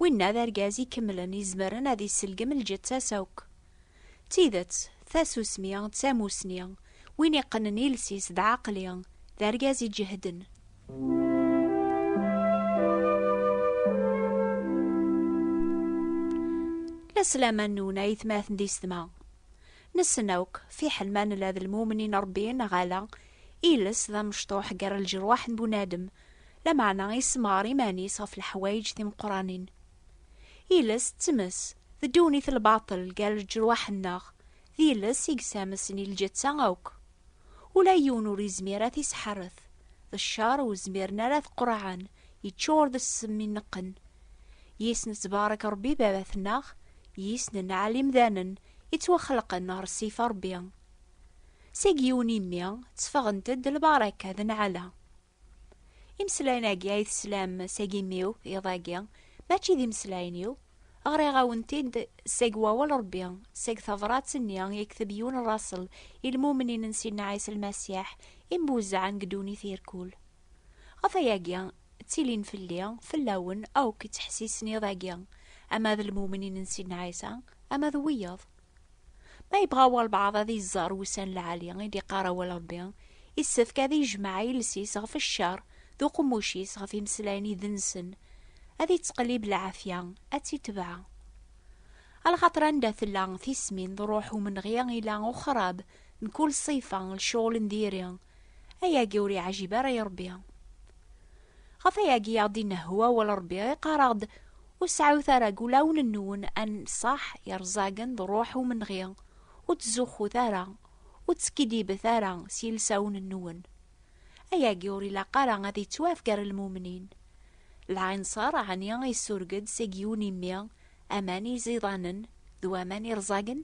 Winna d argaz ikemlen izemren ad iselgem lǧetta-s akk. D tidet, tasusmi d tamusni, win iqqnen iles-is d aɛaqli, d argaz iǧehden. Laslaman n unaytmaten d isetma. Nessen akk, fiḥel ma nella d lmumnin Rebbi neɣ ala, iles d amecṭuḥ ger lǧerwaḥ n bunadem, lameɛna yessemɣer iman-is ɣef leḥwayeǧ timeqqranin. Iles d tmes, d ddunit n lbaṭel gar leǧruḥ-nneɣ, d iles i yessamsen i lǧetta akk. Ula yiwen ur yezmir ad t-isḥerret, d ccer ur zmiren ara ad t-qurɛen, yeččur d ssem ineqqen. Yis n Tbarek Rebbi Baba-tneɣ, yis n Nɛal imdanen ittwaxelqen ɣer ssif Rebbi. Seg yiwen imi, tteffɣent-d lbaraka d Nɛala. Imeslayen-agi ay teslam s agimiw iḍ-agi, mačči d imeslayen-iw, ɣriɣ-awen-t-id seg wawal Rebbi, seg tebrat-nni i yekteb yiwen Raṣel i lmumnin n Sidna Ɛisa Lmasiḥ imbuzaɛen deg ddunit irkul. Ɣef wayagi, ttilin fell-i, fell-awen akk ittḥessisen iḍ-agi, ama d lmumnin n Sidna Ɛisa, ama d wiyaḍ. Ma yebɣa walbaɛḍ ad iẓer wussan lɛali i d-iqqar awal Ṛebbi, issefk ad ijmeɛ iles-is ɣef ccer d uqemmuc-is ɣef imeslayen idensen, ad ittqellib lɛafya ad tt-itbeɛ. A lxaṭer anda tella tismin d ṛuḥ umenɣi ila uxrab n kul ṣṣifa n lecɣel n diri, ayagi ur iɛjib ara i Ṛebbi. Ɣef ayagi i aɣ-d-inehhu awal Ṛebbi, iqqar-aɣ-d, Ur sɛiwet ara deg ulawen-nwen anṣaḥ yerẓagen d ṛṛuḥ umenɣi, ur ttzuxxut ara, ur ttskiddibet ara s yilsawen-nwen. Ayagi ur ilaq ara ad yettwaf gar lmumnin. Lɛinṣer ɛni isureg-d seg yiwen imi, aman iẓidanen d waman irẓagen?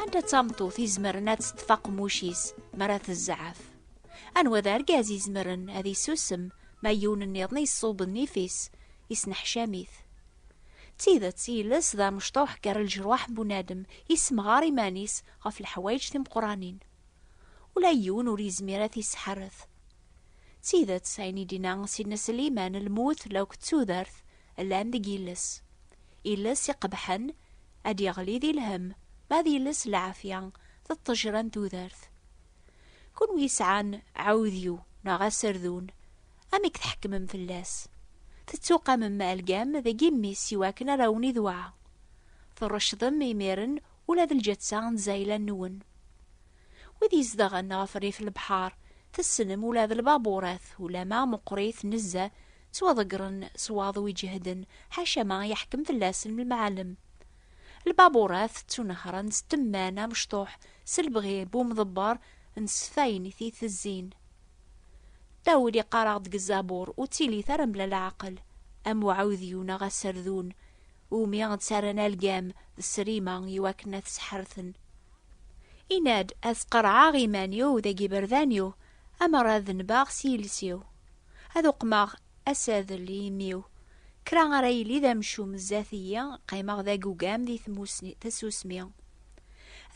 Anta d tameṭṭut izemren ad teṭṭef aqemmuc-is mi ara tezɛef? Anwa d argaz izemren ad isusem ma yiwen nniḍen iṣub nnif-is, isneḥcam-it? D tidet, yiles d amecṭuḥ gar lejruḥ n bunadem, issemɣar iman-is ɣef leḥwayeǧ timeqqranin. Ula i yiwen ur yezmir ad t-isseḥret. D tidet, ayen i d-inna Sidna Sliman, lmut la akked tudert llan deg yiles. Iles iqebḥen ad d-yeɣli di lhemm, ma d iles n lɛafya d ṭṭejra n tudert. Kunwi yesɛan aɛudiw neɣ aserdun, amek tḥekkmem fell-as? Tettuqamem mɛelgam deg imi-s i wakken ara awen-idewɛa. Tṛecdem imiren ula d lǧetta n tzayla-nwen. Wid izedɣen ɣef rrif n lebḥar, tessnem ula d lbaburat ulamma meqqrit nezzeh, ttwaḍeggren s waḍu iǧehden, ḥaca ma yeḥkem fell-asen lmɛellem. Lbaburat ttunehhṛen s temman amecṭuḥ s lebɣi n wemḍebber n ssfayen i t-itezzin. Ṭawel yeqqar-aɣ-d deg zzabur, ur ttilit ara mebla leɛqel, am uɛudiw neɣ aserdun iwumi ttarran algam d ssrima i wakken ad t-sḥerten. Yenna-d, Ad sqerɛeɣ iman-iw deg iberdan-iw, amer ad nnbeɣ s yiles-iw. Ad uqmeɣ A sadel i imi-w, kra ara yili d amcum zdat-iyi, qqimeɣ d agugam di tmusni, tasusmi.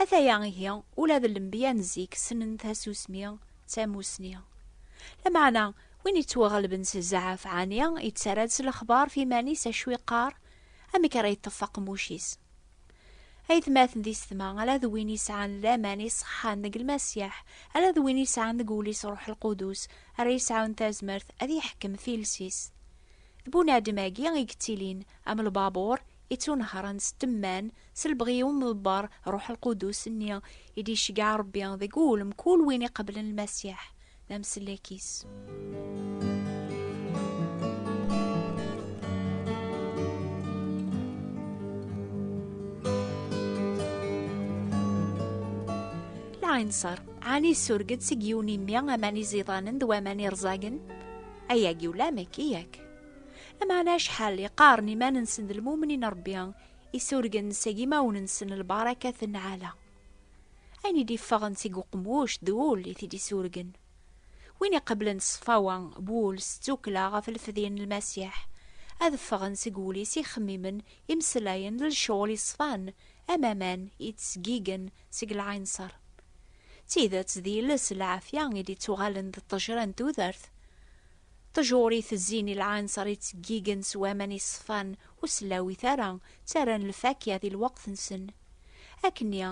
Ataya ihi, ula d lenbiya n zik ssnen tasusmi d tamusni. Lameɛna, win yettwaɣelben s zzɛaf, ɛni yettarra-d s lexbar f iman-is acu yeqqar? Amek ara yeṭṭef aqemmuc-is? aytmaten di setma ala d win yesɛan laman iṣeḥḥan deg lmasiḥ ala d win yesɛan deg wul-is ṛuḥ lqudus ara yesɛun tazmert ad iḥekkem tiles-is d bunadem-agi i yettilin am lbabuṛ ittunehṛen s temman s lebɣi i umḍebber ṛuḥ lqudus-nni i d-iceggeɛ Ṛebbi deg wul mkul win iqeblen lmasiḥ d amsellek-is. Lɛinṣer, ɛni surg-d seg yiwen imi aman iẓidanen d waman irẓagen? Ayagi ulamek, iyak. Ameɛna acḥal iqqaren iman-nsen d lmumnin Rebbi isurgen seg imawen-nsen lbarakat n Ɛala. Ayen i d-iffɣen seg uqemmuc d wul i t-id-isurgen. Win iqeblen ṣṣfawa n wul s tdukkla ɣef lfedyen n Lmasiḥ, ad ffɣen seg wul-is ixemmimen, imeslayen d lecɣal iṣfan am aman yettezgigen seg lɛinṣer. D tidet, d yiles n lɛafya i d-ittuɣalen d ṭṭejra n tudert. Ṭṭjur itezzin i lɛinṣer yettezgigen s waman iṣfan ur sellawit ara, ttarran lfakya di lweqt-nsen. Akkenni,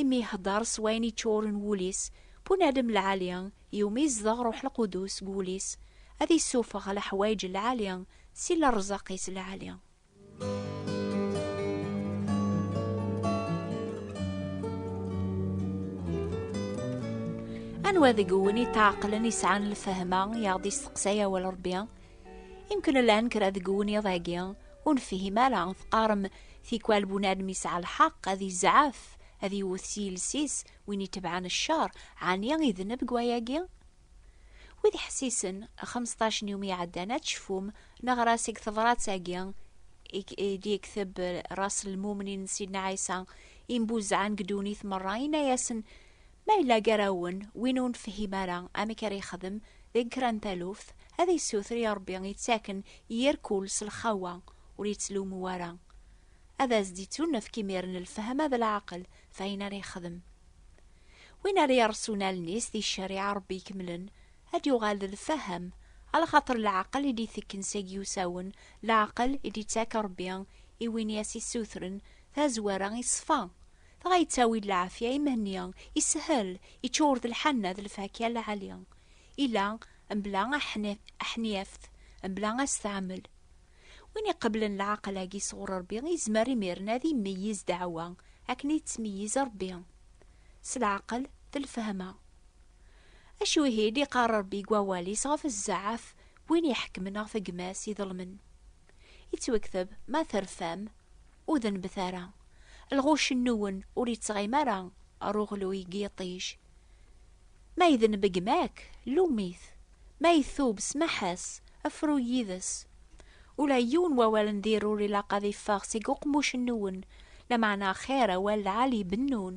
imi ihedder s wayen iččuren wul-is, bunadem lɛali, iwmi izdeɣ Ruḥ Lqudus deg wul-is, ad issufeɣ leḥwayeǧ lɛali si lerẓaq-is lɛali. Anwa deg-wen itɛeqqlen isɛan lfehma i aɣ-d-isteqsay awal Ṛebbi? Imken llan kra deg-wen iḍ-agi ur nefhim ara, teqqarem Tikwal bunadem yesɛa lḥeqq ad yezɛef, ad yewwet s yiles-is win itebɛen ccer, ɛni idneb deg wayagi? Wid iḥessisen, xemseṭṭac n yumi iɛeddan ad tcefum, neɣra seg tebrat-agi i d-yekteb Ras Lmumnin Sidna Ɛisa i imbuzzɛen deg ddunit merra, yenna-yasen, Ma yella gar-awen win ur nefhim ara amek ara yexdem deg kra n taluft, ad yessuter i Rebbi yettaken i yir kul s lxawa, ur yettlumu ara. Ad as-d-ittunefk imir n lfehma d leɛqel f ayen ara yexdem. Win ara yerṣun allen-is di ccariɛa n Rebbi ikemlen, ad d-yuɣal d lfeham, alaxater leɛqel i d-itekken seg yiwsawen, leɛqel i d-ittak Rebbi i win i as-issutren tazwara i ṣṣfa. Dɣa yettawi-d lɛafya i Mhenni, yeshel, yeččur d lḥanna d lfakya lɛali, ila mebla aḥniaft, mebla asetɛamel. Win iqeblen lɛaqel-agi sɣur Rebbi yezmer imiren ad immeyyiz ddeɛwa akken i tettmeyyiz Rebbi, s lɛaqel d lfehma. Acu ihi d-iqqar Rebbi deg wawal-is ɣef zzeɛf n win iḥekmen ɣef gma-s iḍelmen? Yettwekteb, Ma terfam, ur dennbet ara, lɣuc-nwen ur yettɣim ara ɣer uɣluy n yiṭij. Ma idenneb gma-k, lum-it, ma itub, smaḥ-as, afru yid-s. Ula i yiwen wawal n dir ur ilaq ad iffeɣ seg uqemmuc-nwen, lameɛna axir awal lɛali bennun.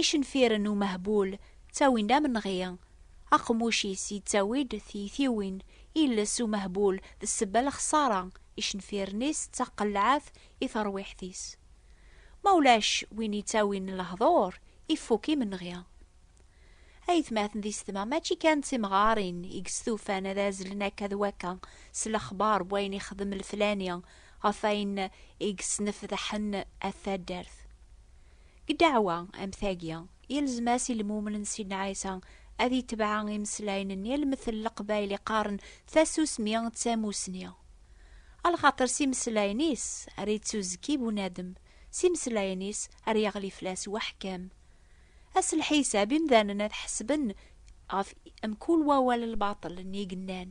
Icenfiren n umehbul ttawin-d amenɣi. Aqemmuc-is yettawi-d tiytiwin, iles umehbul d ssebba n lexṣara, icenfiren-is d taqelɛet i terwiḥt-is. Ma ulac win yettawin lehdur, ifuk imenɣi. Aytmaten d isetma mačči kan d timɣarin i yestufan ad azlen akka d wakka s lexbar n wayen ixdem leflani ɣef wayen i yesnefḍeḥen at taddart. Deg ddeɛwa am tagi, yelzem-as i lmumen n Sidna Ɛisa ad yetbeɛ imeslayen-nni i lmetel Leqbayel i qqaren tasusmi d tamusni. A lxaṭer s imeslayen-is ara yettuzzekki bunadem, s imeslayen-is ara yeɣli fell-as weḥkem. A s lḥisab imdanen ad ḥesben ɣef mkul wawal lbaṭel-nni i yennan.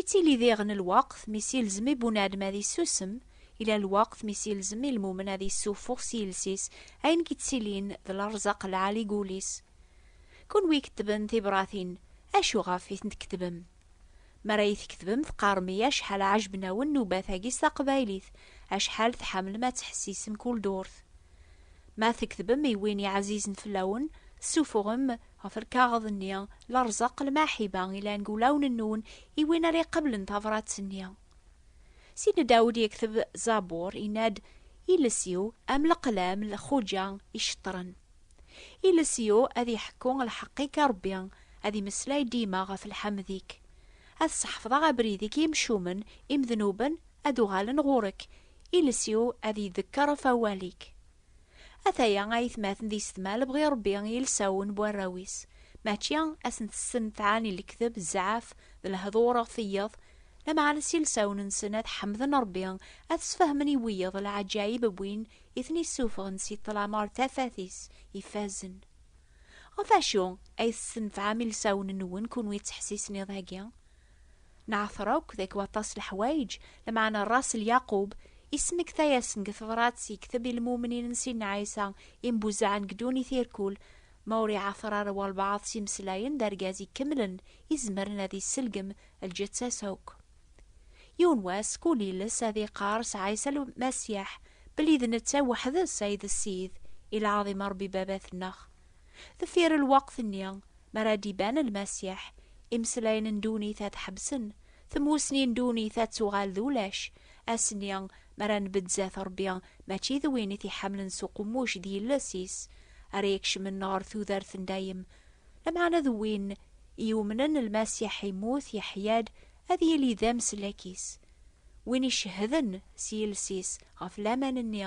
Ittili diɣen lweqt mi s-ilzem i bunadem ad issusem, yella lweqt mi s-ilzem i lmumen ad issuffuɣ s yiles-is ayen yettilin d lerẓaq lɛali deg wul-is. Kunwi ikettben tibratin, acu ɣef i tent-tkettbem? Mi ara iyi-tkettbem teqqarem-iyi acḥal ɛejben-awen nnubat-agi s taqbaylit, acḥal tḥamlem ad ttḥessisem kul durt. Ma tkettbem i win iɛzizen fell-awen, tessuffuɣem, Ɣef lkaɣeḍ-nni, lerẓaq, lmaḥiba, yellan deg wulawen-nnun i win ara iqablen tabrat-nni. Sidna Dawed yekteb Zabur, yenna-d, Iles-iw am leqlam, lxuǧa iceṭren. Iles-iw ad iḥekku lḥeqq-ik a Ṛebbi, ad imeslay dima ɣef lḥemd-ik. Ad sseḥfḍeɣ abrid-ik imcumen, imednuben ad uɣalen ɣur-k, iles-iw ad idekkeṛ ɣef awal-ik. Ataya a itmaten d isetma lebɣi Rebbi yilsawen n warraw-is, mačči a sen-tessenfɛen i lekdeb, zzɛaf, d lehdur ɣef wiyeḍ, lameɛna s yilsawen-nsen ad ḥemden Rebbi, ad sfehmen i wiyeḍ leɛǧayeb n win i ten-issufɣen si ṭṭlam ɣer tafat-is ifazen. Ɣef wacu ay tessenfɛam ilsawen-nwen kunwi ttḥessisen iḍ-agi? Nɛater akk d ak waṭas leḥwayeǧ, lameɛna Rasel Yaqub ismekta-yasen deg tebrat yekteb i lmumnin n Sidna Ɛisa imbuzaɛen deg ddunit irkul, ma ur iɛater ara walbeɛḍ s imeslayen d argaz ikemlen izemren ad isselgem lǧeţţa-s akk. Yiwen wass kul iles ad iqqar s Ɛisa Lmasiḥ belli d neţţa weḥd-es ay d Ssid, i lɛaḍima Ṛebbi Baba-tneɣ. Deffir lweqt-nni, mi ara d-iban Lmasiḥ, imeslayen n ddunit ad ḥebsen, tmussni n ddunit ad tuɣal d ulac, ass-nni mi ara nbedd zdat Ṛebbi mačči d win i t-iḥemmlen s uqemmuc d yiles-is ara ikecmen ɣer tudert n dayem, lameɛna d win i yumnen Lmasiḥ immut yeḥya-d ad yili d ameslak-is, win icehhden s yiles-is ɣef laman-nni.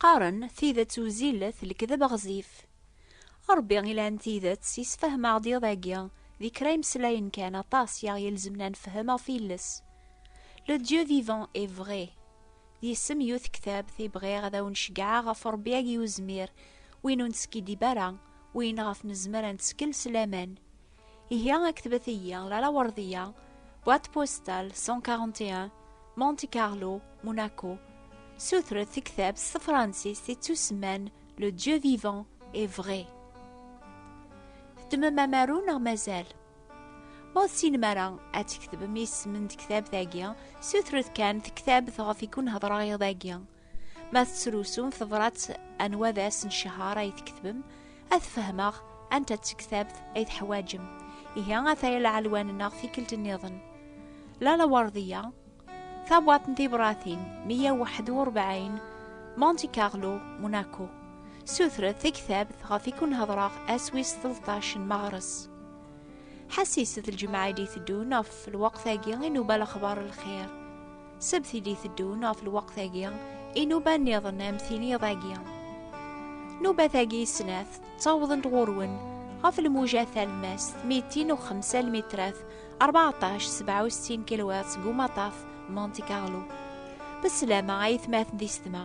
Qqaren, tidet wezzilet, lekdeb ɣezzif. Ṛebbi ilan tidet, yessefhem-aɣ-d iḍ-agi, di kra imeslayen kan, aṭas i aɣ-yelzemen ad nefhem ɣef Yiles. Le Dieu vivant et vrai. D isem yiwet tektabt i bɣiɣ ad awen-ceggɛeɣ ɣef Ṛebbi-agi uzmir, win ur neskiddib ara, win ɣef nezmer ad nettkel s laman, Ihi aktbet-iyi ɣer laweṛḍiya, boîte postale 141, Monte Carlo, Monaco. Sutret tiktab s tefṛensist yettusemman Le Dieu vivant est vrai. Teddmem amaru neɣ mazal? Ma ur tessinem ara ad tketbem isem n tektabt-agi, sutret kan tektabt ɣef i kun-hedṛeɣ iḍ-agi. Ma tettlusum tebrat anwa d ass n ccehar ay tketbem, ad fehmeɣ anta d tektabt ay teḥwajem. Ihi ataya lɛelwan-nneɣ tikkelt niḍen. Lala Werdiya, tabwaḍt n tibratin 141, Monte Carlo, Monaco. Sutret tiktabt ɣef i kun-hedreɣ ass wis 13 n meɣres. Ḥassiset lǧemɛa i d-iteddun ɣef lweqt-agi i nuba lexbar lxir. Seb tili teddun ɣef lweqt-agi, inuba nniḍen am tin iḍ-agi. Nubat-agi snat, ttawḍent ɣur-wen, ɣef lmuja talmast, mitin u xemsa lmitrat, rbaɛṭac, sebɛa u settin kilwat seg umaṭaf, Monte Carlo. Beslama ay tmaten di setma.